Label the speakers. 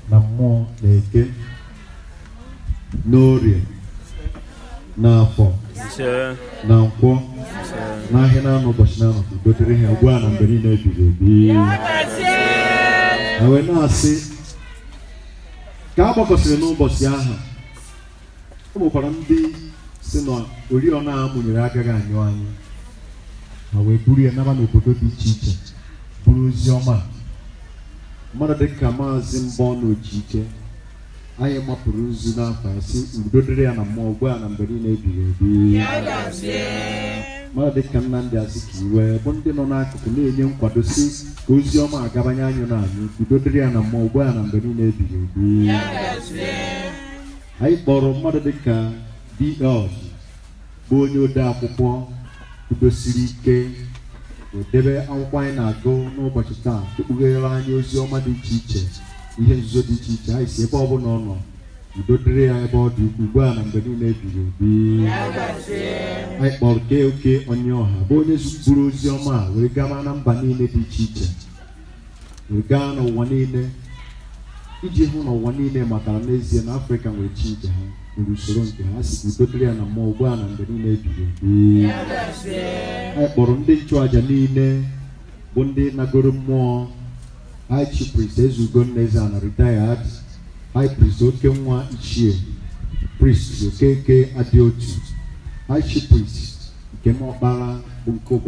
Speaker 1: na mmụọ na eke na orie na afọ na nkwọ n'ahịa na anọ ụbọchị na anọ udo dịrị ha ugbu a na mgbe niile ebighị ebi na wee na-asị ka a gbakọsịrị n'ụbọchị ahụ o nwekwara ndị sị na oriọna a mụnyere agaghị anyụ anyụ ha wee buru ya naba n'obodo dị iche iche buru ozi ọma mmadụ dị ka maazị Mbọnụ Ojike anyị mapụrụ nzu n'afa ya sị udo dịrị ya na mmụọ ugbu a na mgbe niile ebighị ebi mmadụ dị ka Nnamdi Azikiwe bụ ndị nọ n'akụkụ na-enye nkwado sị ka ozi ọma a gabanye anyụ na anyị udo dịrị ya na mmụọ ugbu a na mgbe niile ebighị ebi anyị kpọrọ mmadụ dịka DL bụ onye ode akwụkwọ kwudosiri ike edebe akwụkwọ anyị na-agụ n'ụbọchị taa ekpughere anyị ozi ọma dị iche iche ihe nzuzo dị iche iche anyị sị ebe ọbụla ọ nọ udo dịrị ya ebe ọ dị ukwu ugbu a na mgbe niile ebighị ebi anyị kpọrọ KOK Onyioha bụ onye zụburu ozi ọma a wee gama na mba niile dị iche iche wee gaa n'ụwa niile iji hụ na ụwa niile matara n'ezie na afrịka nwere chi nke ha nwere usoro nke ha sị udo dịrị ya na mmụọ ugbu a na mgbe niile ebighị ebi anyị kpọrọ ndị nchụaja niile bụ ndị nagoro mmụọ high chief priest ezugo nna ezeana retired high priest okenwa ichie priest okeke adịotu high chief priest nkem ọkpara bụ nke ụbọchị